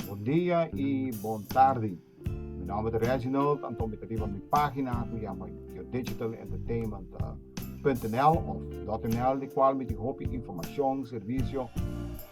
Bon dia y bon tardi. Mi nomber ta Reginald, anto mi ta riba mi pagina cu yama yodigitalentertainment.nl of .nl di cual mi tin hopi informacion, servicio,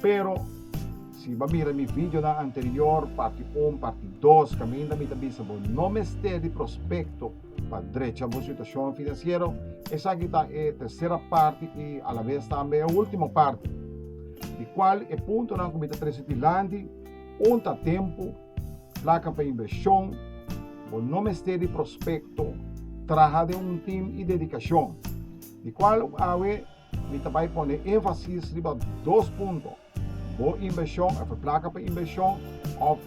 Pero, si bo a mira mi videonan anterior, parti un, parti dos, caminda mi ta bisa bo no mester di prospecto pa drecha bo situacion financiero, esaki ta e tercera parti y alavez tambe e ultimo parti. Di cual e puntonan cu mi ta trece dilanti, un ta tempo, placa pa inversion, bo no mester di prospecto, traha den un team y dedicacion. Di cual awe, Mi ta bai pone énfasis riba dos punto, bo invershon òf e plaka pa invershon òf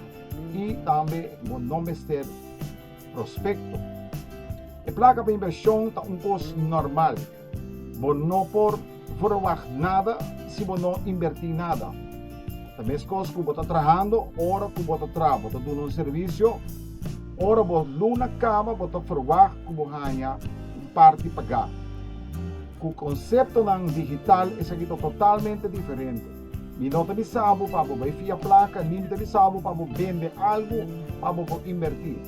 i tambe bo no mester prospekto. E plaka pa invershon ta un kos nòrmal. Bo no por verwagt nada si bo no invertí nada. Ta meskos ku bo ta trahando ora ku bo ta traha, bo ta duna un servisio. Ora bo luna kaba bo ta verwagt ku bo haña un parti pagá. Ku konseptonan digital esaki ta totalmente diferente. Mi no ta bisa bo pa bo bai fia plaka ni mi ta bisa bo pa bo bende algu pa bo por inbertí.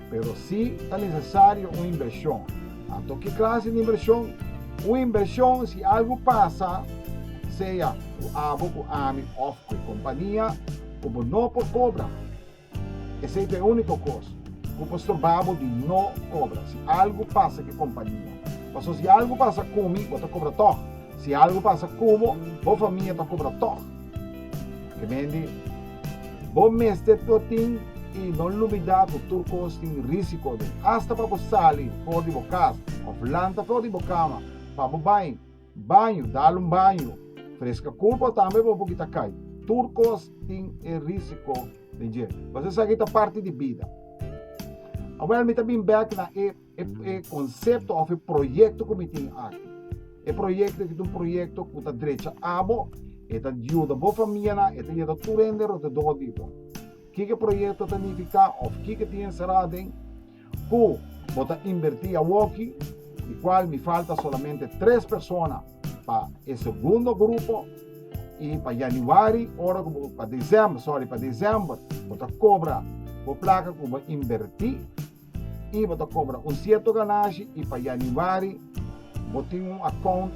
Pero sí ta nesesario un inbershon. Anto ki klase di inbershon? Un inbershon si algu pasa, sea ku abo ku ami òf ku e kompania, ku bo no por kobra. Esei ta e úniko kos ku por storbá bo di no kobra si algu pasa ku e kompania. Pasobra si algu pasa ku mi, bo ta kobra tòg. Si algu pasa ku bo, bo famia ta kobra tòg. Ke meen di, Bo mester por tin i no lumidá ku tur kos tin rísiko den, asta pa bo sali for di bo kas òf lanta for di bo kama pa bo bai. Baño, dal un baño. Freska kulpa tambe pa bo kita kai. Tur kos tin e risiko den dje. Base esaki ta parti di bida. Awel mi ta bin bek na e e konsepto of e proyekto ku mi tin aki. E proyekto aki ta un proyekto ku ta drecha abo, e ta yuda bo famianan, e ta yuda tur hende rodedo di bo. Kiko e proyekto ta nifiká of kiko tin enserá aden? Cu bo ta inverti awoki, di cual mi falta solamente tres persona pa e segundo grupo, y pa Januari, ora cu bo, pa December, sorry, pa December bo ta cobra bo placa cu bo inverti y bo ta cobra un cierto ganashi y pa Januari bo tin un account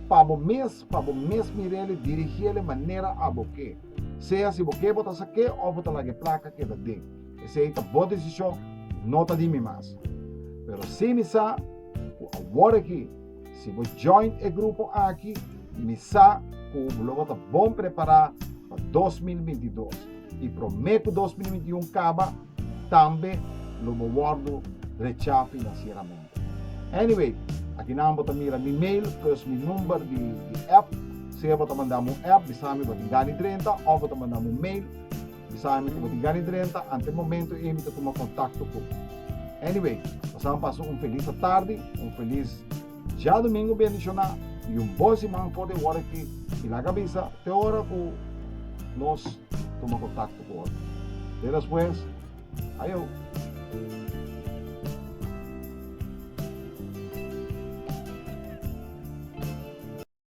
pa bo mes, pa bo mes mirele, dirigele manera a bo ke, sea si bo ke bo ta sa ke of bo ta laga e placa keda den. Esei ta bo desishon, no ta di mi mas. Pero si mi sa ku awor aki, si bo join e grupo aki, mi sa ku lo bo ta bon prepará pa dos mil binti i dos. I promé ku dos mil binti i un kaba, tambe lo bo wòrdu rechá finansieramente. Anyway, aki nan bo ta mira mi mail plus mi number di app. Sea bo ta mandami un app, bisa mi bo tin Dani Drenta, òf bo ta mandami un mail, Bisa mi ku bo tin gana di drenta ante momentu ei mi ta tuma kontakto ku bo. Anyway, pasaban pasa un felis atardi, un felis djadumingu bendishoná i un bon siman for di wòrda aki i laga bisa te ora ku nos tuma kontakto ku otro. Te despues, ayo!